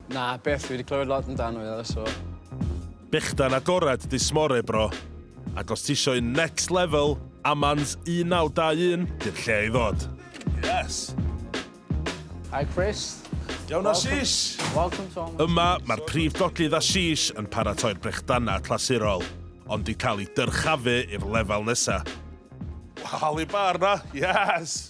Na, byth. Fi wedi clywed lot amdano fe ddo, so... Bechdan agored dy smore bro. Ac os tisio un next level, Amans 1921 di'r lle i ddod. Yes! Hi Chris. Iawn Ashish! Welcome to Amans. Yma, mae'r prif doglydd Ashish yn paratoi'r brechdanau clasurol, ond di cael ei dyrchafu i'r lefel nesa. Waw, i bar na? Yes!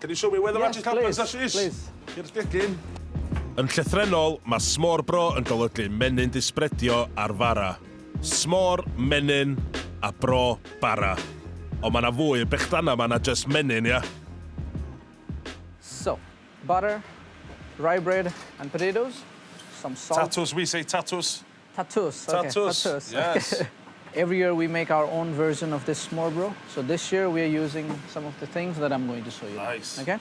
Can you show me where the magic happens Ashish? Yes please, please. Here's digging. Yn llythrennol, mae smorbrô yn golygu menyn disbredio ar fara. Smor, menyn, a bro, bara. Ond mae 'na fwy, bechdanna mae 'na jyst menyn, ia? So, butter, rye bread and potatoes, some salt. Tatws, we say tatws. Tatws ok. Tatws. Tatws. Yes. Every year we make our own version of this Marlboro so this year we are using some of the things that I'm going to show you. Nice. Ok?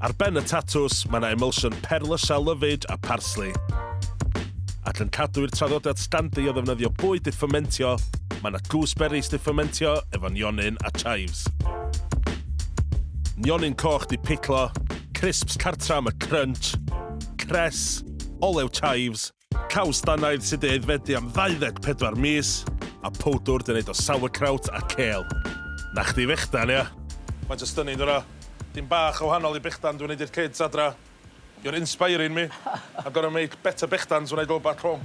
Ar ben y tatws mae yna emulsion perlysiau lyfyd a parsley. Ac yn cadw i'r traddodiad standy o ddefnyddio bwyd i ffymentio, mae yna gooseberries di ffymentio efo nionyn a chives. Nionyn coch di piclo, crisps cartra am y crunch, cress, olew chives, caws dannaidd sydd wedi aeddfedu am 24 mis, a powdwr dyn wneud o sauerkraut a cêl. Na chdi fechdan, ia? Faint o stunning dwi yna. Dim bach o wahanol i bechdan dwi'n wneud i'r kids adra. You're inspiring me. I'm gonna make better bechdans when I go back home.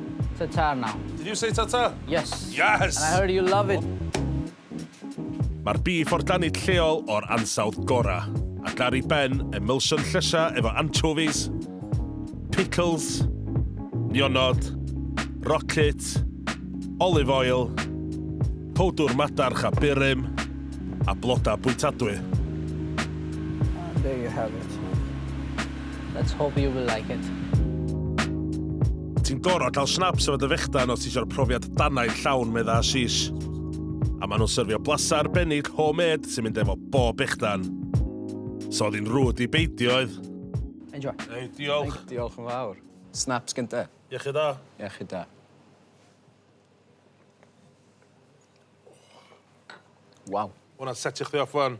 Ta-ta now. Did you say ta-ta? Yes. Yes! And I heard you love it. Mae'r bîff o'r danid lleol o'r ansawdd gorau, ac ar ei ben, emulsion llysiau efo anchovies, pickles, nionod, rocket, olive oil, powdwr madarch a burum, a blodau bwytadwy. And there you have it. Let's hope you will like it. Ti'n gorau cael snaps efo dy fechdan os ti eisiau'r profiad danau llawn, medda Ashish. A maen nhw'n syrfio blasa arbennig homemade sy'n mynd efo bob bechdan. So oedd hi'n rwyd i beidio oedd. Enjoy. Ei, diolch. Ei, diolch yn fawr. Snaps gynta. Iechyd da. Iechyd da. Waw. Hwna'n setio chdi off fan.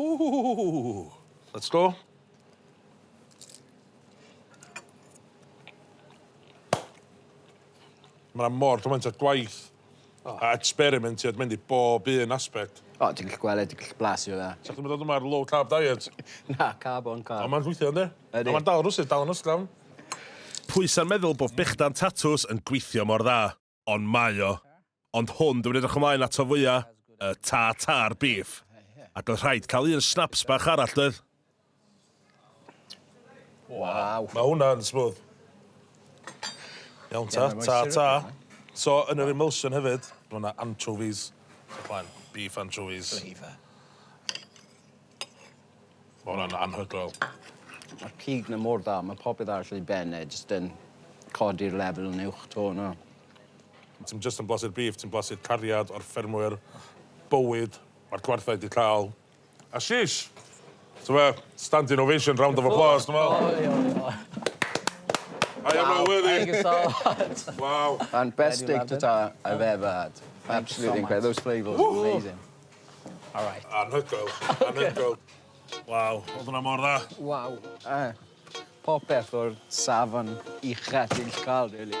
Ooh, let's go. Mae yna mor gymaint o gwaith oh. a experimentiad mynd i bob un aspect. O, oh, ti'n gallu gweld, ti'n gallu blasio fe. Sa'ch chi'n mynd o'r low carb diet? Na, carb o'n carb. Ond mae'n rhwythio, ynddi? Ydy. Ond mae'n dal rwsyd, dal yn ysglawn. Pwy sa'n meddwl bod bechdan tatws yn gweithio mor dda? ond mae o. Ond hwn dwi'n edrych ymlaen ato fwya, y tartar beef. Ac oedd rhaid cael un snaps bach arall doedd? Waw. Mae hwnna'n smooth. Iawn ta, ta ta. So, yn yr emulsion hefyd, mae yna anchovies. Beef anchovies. Flavour. Ma' wnna'n anhygoel. Ma'r cig 'na mor dda, ma' popeth arall yn ei ben e jyst yn codi'r lefel yn uwch 'to yna. Ti'm jyst yn blasu'r beef, ti'n blasu'r cariad o'r ffermwyr, bywyd ma'r gwartheg 'di ca'l, a sheesh! T'mo' fe? Standing ovation, round of applause, dwi'n me'wl. Ole ole ole. I am not worthy. Thank you so much. Waw. Ma'n best steak tartare I've ever had. Absolutely incredible. Those flavours are amazing. All right. Anhygoel. Anhygoel. Waw, oedd hwnna mor dda. Waw. Yy popeth o'r safon ucha ti'n gallu ca'l rili.